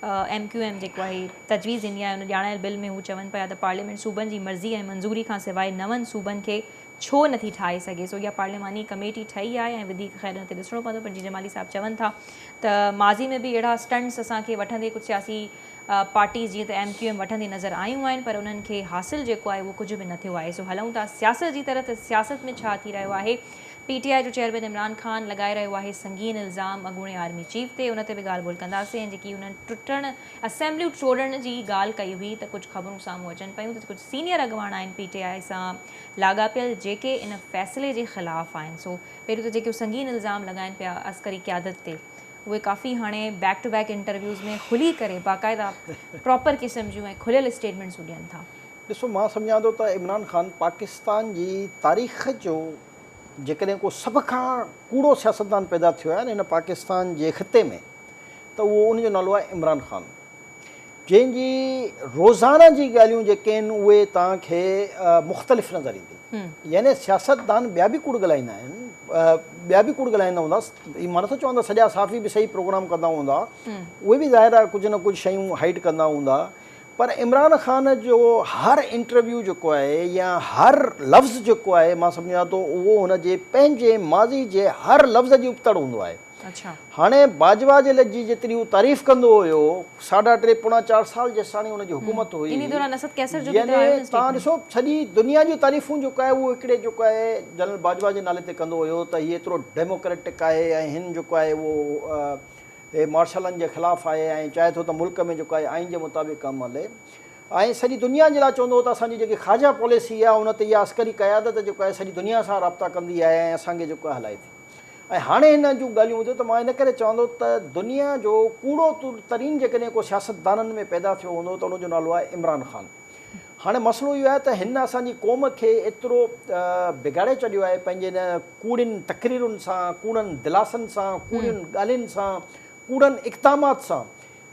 ايم ڪيو ايم جيڪو آهي تجويز ڏني آهي ان ڄاڻايل بل ۾ هو چون پيا ته پارليامينٽ صوبن جي مرضي ۽ منظوري کان سواء نون صوبن کي ڇو نٿي ٺاهي سگهي سو اها پارلياماني ڪميٽي ٺهي آهي ۽ وڌيڪ خير ان تي ڏسڻو پوندو پر جي جمالي صاحب چون ٿا ته ماضي ۾ به اهڙا اسٽنٽس اسان کي وٺندي ڪجهه سياسي پارٽيز جيئن ته ايم ڪيو ايم وٺندي نظر آيون آهن پر انهن کي حاصل جيڪو آهي اهو ڪجهه به نه ٿيو آهي سو هلون ٿا سياست جي طرف ته سياست ۾ ڇا ٿي رهيو آهي پي ٽي آء جو چيئرمين عمران خان لڳائي رهيو آهي سنگين الزام اڳوڻي آرمي چيف تي، ان تي به ڳالهه ٻولهه ڪنداسين ۽ جيڪي انهن ٽٽڻ اسيمبليون ٽوڙڻ جي ڳالهه ڪئي هئي ته ڪجهه خبرون سامهون اچن پيون ته ڪجهه سينيئر اڳواڻ آهن پي ٽي آء سان لاڳاپيل جيڪي ان فيصلي جي خلاف آهن سو پهريون ته جيڪي سنگين الزام لڳائين پيا عسڪري قيادت تي اهي ڪافي هاڻي بيڪ ٽو بيڪ انٽرويوز ۾ کلي ڪري باقاعده پراپر قسم جون ۽ کليل اسٽيٽمينٽسون ڏين ٿا. ڏسو مان سمجهان
ٿو ته عمران خان پاڪستان جي تاريخ جو جيڪڏهن ڪو سڀ کان ڪوڙو سياستدان پيدا ٿيو آهي نه هن پاڪستان جي خطي ۾ ته اهو ان جو نالو آهي عمران خان جنهن جي روزانه جي ڳالهيون جيڪي آهن اهي توهان کي مختلف نظر ايندي يعني سياستدان ٻيا به ڪوڙ ڳالهائيندا آهن ٻيا به ڪوڙ ڳالهائيندا هوندا مان نٿو چوان ته سڄا صحافي به صحيح پروگرام ڪندا هوندا اهي به ظاهر آهي ڪجهه نه ڪجهه شيون هائيڊ ڪندا هوندا پر عمران خان جو هر انٽرويو جيڪو آهي يا هر لفظ جيڪو آهي مان سمجهان ٿو اهو هن جي پنهنجي ماضي جي هر لفظ جي ابتڙ هوندو آهي. هاڻي
باجوا
جي لڄ جي جيتري هو تعريف ڪندو هيو ساڍا ٽي پوڻا چار سال جيستاڻي هن جي حڪومت هئي يعني
تان ڏسو
سڄي دنيا جون تعريفون جيڪو آهي اهو هڪڙي جيڪو آهي جنرل باجوا جي نالي تي ڪندو هيو ته هي ايترو ڊيموڪريٽڪ آهي ۽ هن جيڪو آهي اهو هي مارشلن جي خلاف آهي ۽ چاهي ٿو ته ملڪ ۾ جيڪو آهي آئين جي مطابق ڪم هلي ۽ سڄي دنيا جي لاء چوندو هو ته اسان جي جيڪي خارجه پاليسي آهي ان تي اها عسڪري قيادت جيڪو آهي سڄي دنيا سان رابطا ڪندي آهي ۽ اسان کي جيڪو آهي هلائي ٿي ۽ هاڻي هن جون ڳالهيون ٻڌو ته مان ان ڪري چواندو ته دنيا جو ڪوڙو ترين جيڪڏهن ڪو سياستدانن ۾ پيدا ٿيو هوندو ته ان جو نالو آهي عمران خان. هاڻي مسئلو اهو آهي ته هن اسان جي قوم کي ايترو بگاڙي ڇڏيو آهي پنهنجي ان ڪوڙين تقريرن سان، ڪوڙن دلاسن سان، ڪوڙين ڳالهين سان، ڪوڙن اقدامات سان.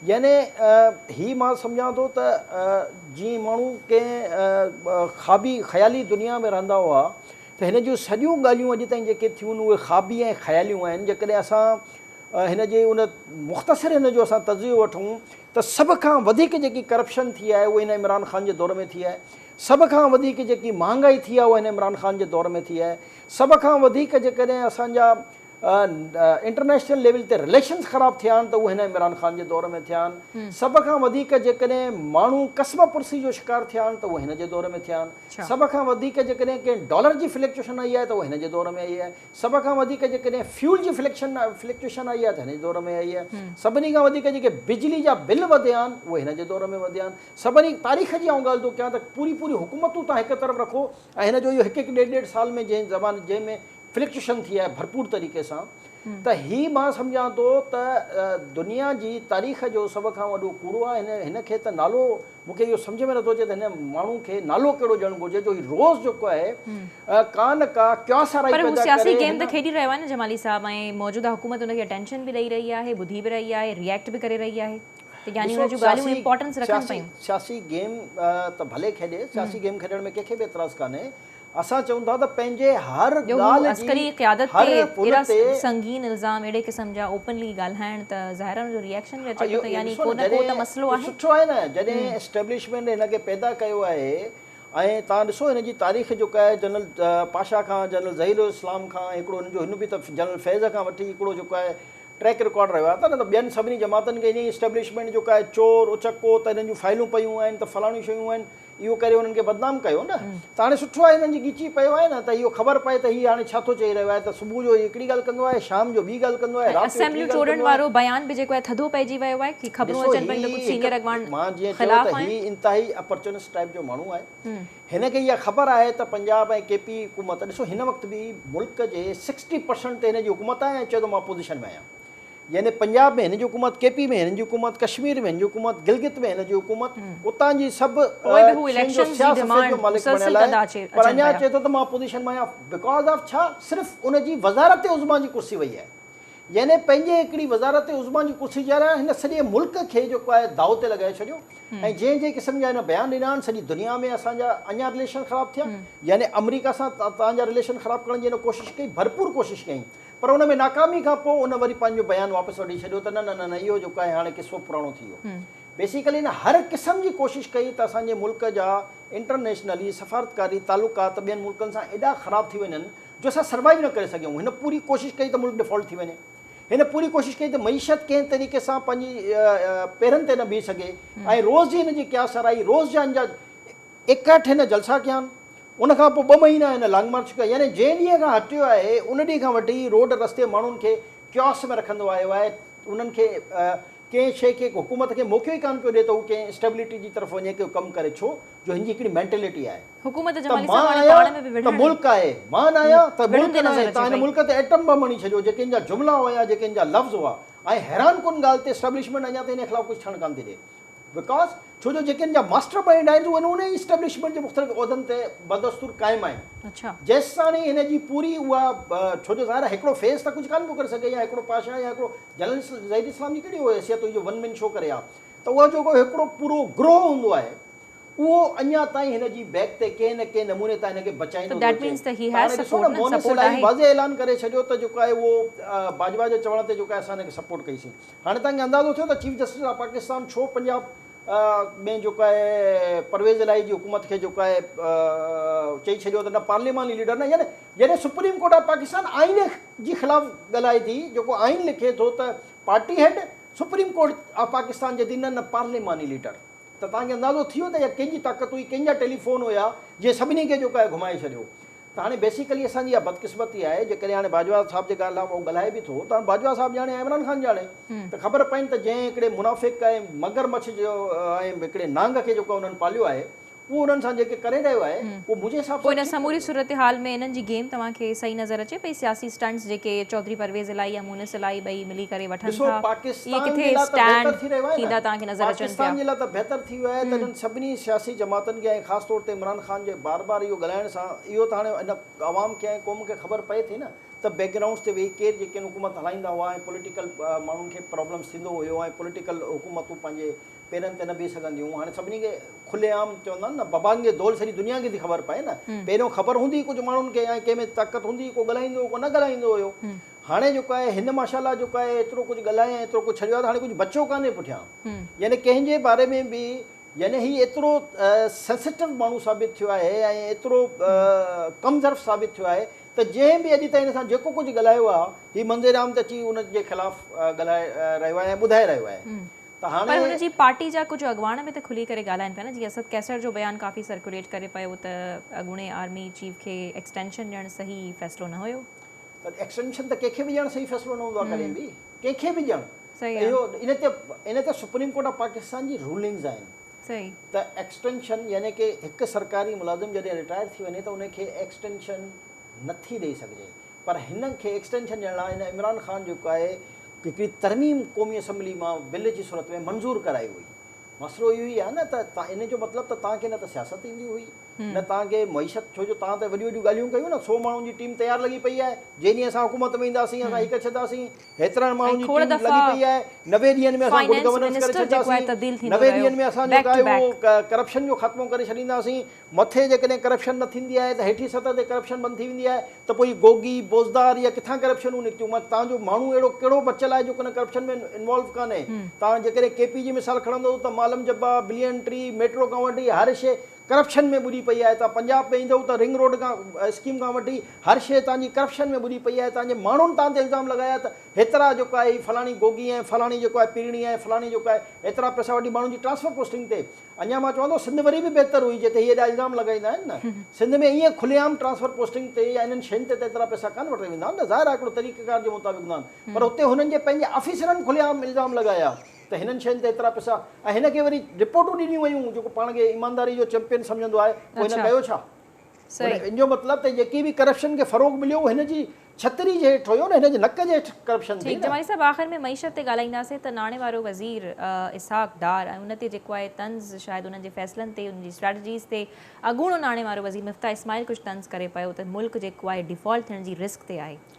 يعني هي مان سمجهان ٿو ته جيئن ماڻهو ڪنهن خوابي خيالي دنيا ۾ رهندا هئا ته هن جون سڄيون ڳالهيون اڄ تائين جيڪي ٿيون آهن اهي خوابي ۽ خياليون آهن. جيڪڏهن اسان هن جي ان مختصر هن جو اسان تجزيو وٺون. ته سڀ کان وڌيڪ جيڪي ڪرپشن ٿي آهي اهو هن عمران خان جي دور ۾ ٿي آهي، سڀ کان وڌيڪ جيڪي مهانگائي ٿي آهي اها هن عمران خان جي دور ۾ ٿي آهي، سڀ کان وڌيڪ جيڪڏهن اسان جا انٽرنيشنل ليول تي رليشنز خراب ٿيا آهن ته اهو هن عمران خان جي دور ۾ ٿيا آهن، سڀ کان وڌيڪ جيڪڏهن ماڻهو قصبه پرسي جو شڪار ٿيا آهن ته اهو هن جي دور ۾ ٿيا آهن، سڀ کان وڌيڪ جيڪڏهن ڪنهن ڊالر جي فلڪچوئشن آئي آهي ته اهو هن جي دور ۾ آئي آهي، سڀ کان وڌيڪ جيڪڏهن فيول جي فليڪشن فلڪچوئيشن آئي آهي ته هن جي دور ۾ آئي آهي. سڀني کان وڌيڪ جيڪي بجلي جا بل وڌيا آهن اهي هن جي دور ۾ وڌيا آهن. سڀني تاريخ جي آئون ڳالهه ٿو ڪيان ته پوري پوري حڪومتون تان هڪ طرف رکو ۽ هن جو اهو هڪ هڪ ڏيڍ ڏيڍ سال ۾ جنهن زمان جنهن ۾ فلڪچوئيشن ٿي آهي ڀرپور طريقي سان ته هي مان سمجهان ٿو ته دنيا جي تاريخ جو سڀ کان وڏو ڪوڙو آهي هن کي ته نالو مون کي اهو سمجهه ۾ نٿو اچي ته هن ماڻهو کي نالو ڪهڙو ڏيڻ گهرجي جو هي روز جيڪو آهي ڪا نه ڪا ڪياس آرائي پيدا ڪري. پر هو سياسي گيم ته کيڏي رهيو
آهي نه جمالي صاحب ۽ موجوده حڪومت ان کي اٽينشن به ڏئي رهي آهي، ٻڌي به رهي آهي، ري ايڪٽ به ڪري رهي آهي ته يعني ان جون ڳالهيون امپارٽنس رکن پيون. ڏسو سياسي گيم
ته ڀلي کيڏي، سياسي گيم کيڏڻ ۾ ڪنهن کي به اعتراض ڪانهي اسان چئون ٿا ته پنهنجي هر جو هو ڳالهه جي عسڪري قيادت هر
تي پل اهڙا تي سنگين الزام اهڙي قسم جا اوپنلي ڳالهائڻ ته ظاهر آهي ان جو ريئڪشن به اچي ٿو اهو ته اهو يعني ڏسو ڪو نه نه ڪو ته مسئلو جڏهن آهي. سٺو آهي نه جڏهن هم.
اسٽيبلشمينٽ هن کي پيدا ڪيو آهي ۽ توهان ڏسو هن جي تاريخ جيڪا آهي جنرل پاشا کان جنرل ظهير الاسلام کان هڪڙو هن جو هن به ته جنرل فيض کان وٺي هڪڙو جيڪو آهي ٽريڪ رڪارڊ رهيو آهي ته نه ته ٻين سڀني جماعتن کي ائين ئي اسٽيبلشمينٽ جيڪا آهي چور اچڪو ته هنن جون فائلون پيون آهن ته فلاڻيون شيون آهن اهو ڪري انهن کي بدنام ڪيو نه ته هاڻي سٺو آهي هنن جي ڳچي پيو آهي نه ته اهو خبر پئي ته هي هاڻي ڇا ٿو چئي رهيو آهي ته صبح جو هڪڙي ڳالهه ڪندو آهي شام جو ٻي ڳالهه ڪندو آهي رات جو ٽي ڳالهه ڪندو آهي. اسيمبليون ٽوڙڻ وارو
بيان به جيڪو آهي ٿڌو پئجي ويو آهي هي خبرون اچن پيون ته ڪجهه سينيئر اڳواڻ خلاف آهن. مان جيئن چيو ته هي
انتهائي اپرچونسٽ ٽائيپ جو ماڻهو آهي هن کي اها خبر آهي ته پنجاب ۽ ڪي پي حڪومت ڏسو هن وقت به ملڪ جي سڪسٽي پرسنٽ تي هن جي حڪومت آهي ۽ چئي ٿو مان اپوزيشن ۾ آهيان. يعني پنجاب ۾ هن جي حڪومت، ڪي پي ۾ هن جي حڪومت، ڪشمير ۾ هن جي حڪومت، گلگت ۾ هن جي حڪومت، اتان جي سڀ شين جو سياست جو مالڪ بڻيل آهي پر اڃا چئي ٿو ته مان اپوزيشن مان آهيان بيڪاز آف ڇا صرف ان جي وزارت عظميٰ جي ڪرسي وئي آهي يعني پنهنجي هڪڙي وزارت عظميٰ جي ڪرسي جي آرا هن سڄي ملڪ کي جيڪو آهي داء تي لڳائي ڇڏيو ۽ جنهن جنهن قسم جا هن بيان ڏنا آهن سڄي دنيا ۾ اسان جا اڃا رليشن خراب ٿيا يعني آمريڪا سان تنهنجا رليشن خراب ڪرڻ جي هن ڪوشش ڪئي ڀرپور ڪوشش ڪيائين پر ان ۾ ناڪامي کان پوء ان وري پنهنجو بيان واپس وٺي ڇڏيو ته نه نه نه نه اهو جيڪو آهي هاڻي قصو پراڻو ٿي ويو. بيسيڪلي هن هر قسم جي ڪوشش ڪئي ته اسان جي ملڪ جا انٽرنيشنلي سفارتڪاري تعلقات ٻين ملڪن سان ايڏا خراب ٿي وڃن جو اسان سروائيو نه ڪري سگهيون. هن پوري ڪوشش ڪئي ته ملڪ ڊفالٽ ٿي وڃي. هن پوري ڪوشش ڪئي ته معيشت ڪنهن طريقي سان پنهنجي پيرن تي نه بيهي سگهي ۽ روز جي هن جي ڪيا سرائي روز جا هن جا ايڪرٽ هن جلسا ڪيا آهن، ان کان پوء ٻه مهينا هن لانگ مارچ ڪئي، يعني جنهن ڏينهن کان هٽيو آهي، ان ڏينهن کان وٺي روڊ رستي ماڻهن کي Chaos ۾ رکندو آيو آهي، انهن کي ڪنهن شيء کي حڪومت کي موقعو ئي ڪانه پيو ڏئي ته هو ڪنهن Stability جي طرف وڃي ڪو ڪم ڪري، ڇو جو هن جي هڪڙي Mentality آهي. حڪومت ته جمالي صاحب هاڻي پاڻ ۾ به وڙهڻ ته ملڪ آهي، مان نه آهيان ته ملڪ نه آهي، تان هن ملڪ تي Atom Bomb هڻي ڇڏيو، جيڪي هن جا جملا هيا، جيڪي هن جا لفظ هئا ۽ حيران ڪن ڳالهه ته Establishment اڃا تائين هن خلاف ڪجهه ٿيڻ ڪانه ٿي ڏئي. وڪاس، ڇو جو جيڪي ان جا ماسٽر مائينڊ آهن سو انهن ئي اسٽيبلشمينٽ جي مختلف عهدن تي بدستور قائم آهن. جيستاڻي هن جي پوري اها ڇو جو ظاهر آهي هڪڙو فيس ته ڪجهه ڪانه پيو ڪري سگهي يا هڪڙو پاشا يا هڪڙو جنرل ظهير اسلام جي ڪهڙي اها حيثيت هئي جو ون مين شو ڪري ها ته اهو جيڪو هڪڙو پورو گروهه هوندو آهي اهو اڃا تائين هن جي بيڪ تي ڪنهن نه ڪنهن نموني تان هن کي بچائيندو ٿو اچي ته هاڻي ڏسو نه مونس الائي واضح اعلان ڪري ڇڏيو ته جيڪو آهي اهو باجوا جي چوڻ تي جيڪو آهي اسان هن کي سپورٽ ڪئي سين. هاڻي توهان کي اندازو ٿيو ته چيف جسٽس آف پاڪستان ڇو پنجاب ۾ جيڪو آهي پرويز الاهي جي حڪومت کي جيڪو آهي چئي ڇڏيو ته نه پارلياماني ليڊر نه يعني جڏهن سپريم ڪورٽ آف پاڪستان آئين جي خلاف ڳالهائي ٿي جيڪو آئين لکي ٿو ته party head supreme court of Pakistan چئي ٿي نه نه پارلياماني ليڊر ته توهان کي اندازو ٿيو ته اها ڪنهن جي طاقت هئي ڪنهن جا ٽيليفون هيا جنهن سڀني کي جيڪو آهي گهمائي ڇڏيو ته هاڻي بيسيڪلي اسان جي اها بدقسمتي آهي جيڪڏهن هاڻي باجوا صاحب جي ڳالهه اهو ڳالهائي به ٿو ته هاڻي باجوا صاحب ڄاڻي يا عمران خان ڄاڻي ته خبر پئين ته جنهن هڪڙي منافق ۽ مگر مڇ جو ۽ هڪڙي نانگ کي جيڪو انهن پاليو آهي اهو انهن سان جيڪي ڪري رهيو آهي اهو منهنجي حساب سان ٺيڪ ڪونهي. پوء ان سموري صورتحال ۾
انهن جي گيم توهان کي صحيح نظر اچي پئي سياسي اسٽنٽس جيڪي چوڌري پرويز الاهي يا هن سلائي ٻئي ملي ڪري وٺن ڏسو ٿا. اهي پاڪستان جي ڪٿي لا ته بهتر
اسٽينڊ ٿي رهيو آهي ٿيندا نه توهان کي نظر اچن پاڪستان پيا. جي لا ته بهتر ٿي ويو آهي ته انهن سڀني سياسي جماعتن کي ۽ خاص طور تي عمران خان جي بار بار اهو ڳالهائڻ سان اهو ته هاڻي ان عوام کي ۽ قوم کي خبر پئي ٿي نه ته بيڪ گرائونڊس تي ويهي ڪير جيڪين حڪومت هلائيندا هئا ۽ پوليٽيڪل ماڻهن کي پرابلمس ٿيندو هيو ۽ پوليٽيڪل حڪومتون پنهنجي پيرن تي نه بيهي سگهنديون هيون هاڻي سڀني کي کلي عام چوندا آهن نه ببانگ جي دول سڄي دنيا کي ٿي خبر پئي نه پهريون خبر هوندي هئي ڪجهه ماڻهن کي ۽ ڪنهن ۾ طاقت هوندي هئي ڪو ڳالهائيندو هيو ڪو نه ڳالهائيندو هيو هاڻي جيڪو آهي هن ماشا الله جيڪو آهي ايترو ڪجهه ڳالهايو ۽ ايترو ڪجهه ڇڏيو آهي ته هاڻي ڪجهه بچو ڪانهي پٺيان يعني ڪنهن جي باري ۾ به يعني هي ايترو سينسيٽو ماڻهو ثابت ٿيو آهي ۽ ايترو ڪم ظرف ثابت ٿيو آهي ته جنهن به اڄ تائين هن سان جيڪو ڪجهه ڳالهايو آهي هي منظر عام ته اچي ان جي خلاف ڳالهائي رهيو آهي ۽ ٻڌائي رهيو آهي ته هاڻي پر هن جي پارٽي
جا
ڪجهه
اڳواڻ به ته کلي ڪري ڳالهائن پيا نه جيئن اسد قيصر جو بيان ڪافي سرڪيوليٽ ڪري پيو ته اڳوڻي آرمي چيف کي ايڪسٽينشن ڏيڻ صحيح فيصلو نه هيو پر ايڪسٽينشن
ته ڪنهن کي به ڏيڻ صحيح فيصلو نه هوندو آهي ڪڏهن به ڪنهن کي به ڏيڻ اهو ان تي
ان
تي سپريم ڪورٽ آف پاڪستان جي رولنگز آهن ته
ايڪسٽينشن
يعني ڪي هڪ سرڪاري ملازم جڏهن رٽائر ٿي وڃي ته ان کي ايڪسٽينشن نه ٿي ڏئي سگهجي پر هن کي ايڪسٽينشن ڏيڻ لاء هن عمران خان جيڪو آهي هڪڙي ترميم قومي اسيمبلي مان بل جي صورت ۾ منظور ڪرائي هئي مسئلو اهو ئي آهي نه ته ان جو مطلب ته توهان کي نه ته سياست ايندي هئي نه توهان کي معيشت ڇو جو توهان ته وڏيون وڏيون ڳالهيون ڪيون نه سو ماڻهن جي ٽيم تيار لڳي پئي آهي جنهن ڏينهن اسان حڪومت ۾ اينداسين اسان هڪ ڇڏنداسين هيترن ماڻهن جي ٽيم لڳي پئي آهي نوي ڏينهن ۾ اسان گڊ گورننس ڪري ڇڏنداسين نوي ڏينهن ۾ اسان جو آهي اهو ڪرپشن جو خاتمو ڪري ڇڏينداسين مٿي جيڪڏهن ڪرپشن نه ٿيندي آهي ته هيٺين سطح تي ڪرپشن بند ٿي ويندي آهي ته پوء هي گوگي بوزدار يا ڪٿان ڪرپشنون نڪتيون مت توهان جو ماڻهو اهڙو ڪهڙو بچيل آهي جيڪو ان ڪرپشن ۾ انوالو ڪانهي توهان جيڪڏهن ڪي پي جي مثال کڻندو ته معلم جبا بلين ٽري ميٽرو ڪنورٽ هر شيء ڪرپشن ۾ ٻڏي پئي آهي توهان پنجاب ۾ ايندؤ ته رنگ روڊ کان اسڪيم کان وٺي هر شيء توهان جي ڪرپشن ۾ ٻڏي پئي آهي توهان جي ماڻهن توهان تي الزام لڳايا ته هيترا جيڪو آهي هي فلاڻي گوگي ۽ فلاڻي جيڪو آهي پيرڻي ۽ فلاڻي جيڪو آهي هيترا پئسا وٺي ماڻهن جي ٽرانسفر پوسٽنگ تي اڃان مان چوان ٿو سنڌ وري به بهتر هئي جتي هي ايڏا الزام لڳائيندا آهن نه سنڌ ۾ ائين کلي عام ٽرانسفر پوسٽنگ تي يا انهن شين تي ته ايترا پئسا ڪانه وٺي ويندا نه ظاهر آهي هڪڙو طريقيڪار جي مطابق هوندا آهن پر هتي هنن جي پنهنجي آفيسرن کلي عام الزام لڳايا ته هنن شين تي ايترا پئسا ۽ هن کي وري رپورٽون ڏنيون ويون جيڪو پاڻ کي ايمانداري جو چيمپين سمجهندو آهي پوء هن ڪيو ڇا؟ معنيٰ ان جو مطلب ته جيڪي به ڪرپشن کي فروغ مليو اهو هن جي ڇتري جي هيٺ هيو نه هن جي نڪ جي هيٺ ڪرپشن ٿي نه. جمالي صاحب آخر ۾ معيشت
تي ڳالهائينداسين ته ناڻي وارو وزير اسحاق ڊار ۽ ان تي جيڪو آهي طنز شايد انهن جي فيصلن تي انهن جي اسٽريٽجيز تي اڳوڻو ناڻي وارو وزير مفتاح اسماعيل ڪجهه طنز ڪري پيو ته ملڪ جيڪو آهي ڊيفالٽ ٿيڻ جي رسڪ تي آهي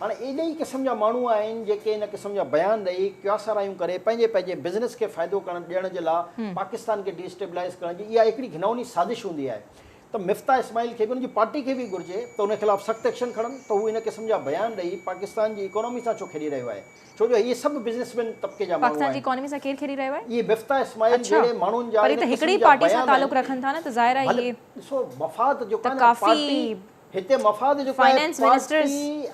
هاڻ اهي ڏهي
قسم
جا ماڻهو آهن جيڪي ان قسم جا بيان ڏئي ڪياسارايون ڪري پنهنجي پنهنجي بزنس کي فائدو ڪرڻ ڏيڻ جي لا پاڪستان کي ڊي اسٽيبلائيز ڪرڻ جي اها هڪڙي گهنئوني سازش هوندي آهي ته مفتاح اسماعيل کي به ان جي پارٽي کي به گهرجي ته ان خلاف سخت ايڪشن کڻن ته هو ان قسم جا بيان ڏئي پاڪستان جي ايڪانومي سان ڇو کيڏي رهيو آهي ڇو جو اهي سڀ بزنس مين طبقي جا ماڻهو آهن پاڪستان جي ايڪانومي سان ڪير کيڏي
رهيو آهي اهي مفتاح اسماعيل
جهڙي ماڻهن جا ان قسم جا بيان
آهن ڀلي ڏسو مفاد جو
ڪا نه پارٽي
هتي مفاد
جو ڪنهن پارٽي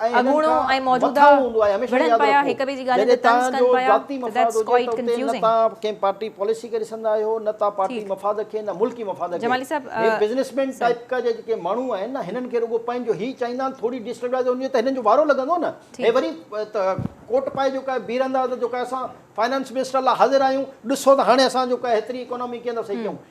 ۽ هنن کان مٿاهون هوندو آهي هميشه ياد رکو جڏهن توهان جو ذاتي مفاد هجي ته اتي نه توهان ڪنهن پارٽي
پاليسي کي ڏسندا آهيو نه توهان پارٽي مفاد کي نه ملڪي مفاد کي هي بزنس
مين ٽائيپ
جا جيڪي ماڻهو آهن نه هنن کي رڳو پنهنجو هي چاهيندا آهن ٿوري ڊيسٽيبلائيز هوندي ته هنن جو وارو لڳندو نه هي وري ڪوٽ پائي جو ڪا بيهه رهندا ته جو ڪا اسان فائنانس منسٽر لاء حاضر آهيون ڏسو ته هاڻي اسان جو ڪا هيتري اڪانامي ڪيئن ٿا صحيح ڪيون